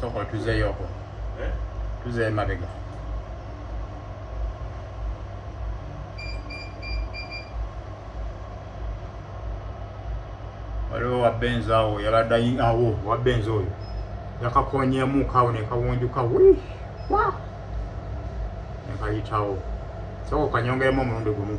soko tuzeeyo okwo eh? tuzeeyo mabega waliwo wabenzi awo yabadde awo wabenzi oyo yakakonyeemu kawo nekawunjuka nekayitawo soko kanyongeremu omulundi gumu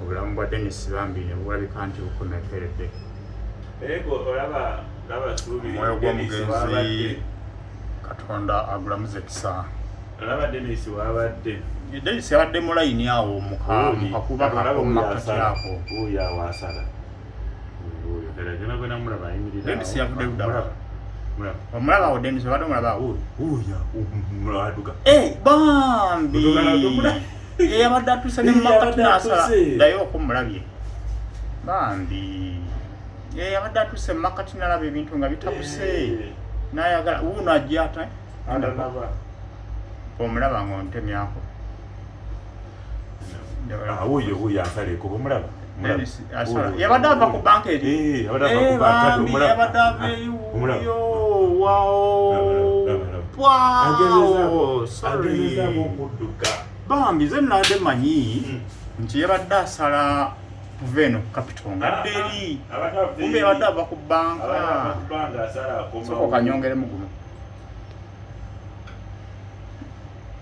obulamu bwa Dennis Bambi ne bulabika nti bukomekkeredde. Omwoyo gw'omugenzi Katonda agulamuze kisa. Olaba Dennis wabadde. Dennis yabadde mu layini awo mu kakuba kakomakati ako. Oyo awasala. Oyo ddala gena gwe namulaba ayimirira. Dennis yavudde ludala. Omulaba awo Dennis obadde omulaba awo. Oyo aduka. Eh bambi. eyabadde atuse nemakati nasala naye okumulabye bambi eyabadde atuse mumakati nalaba ebintu nga bitabuse nayagala wuuno ajja ata omulaba nga ontemyako awuyo wuyo asaleko bwomulaba yabadde ava ku banka eri eh, yabadde ava eyiwuyo bambi ze nade manyi hmm. nti yabadde asala kuva eno kapito ngadde eri kumbe yabadde ava ku banka sokokanyongeremu guno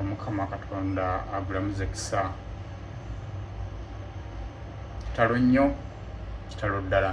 omukama katonda agulamuze kisa kitalo nnyo kitalo ddala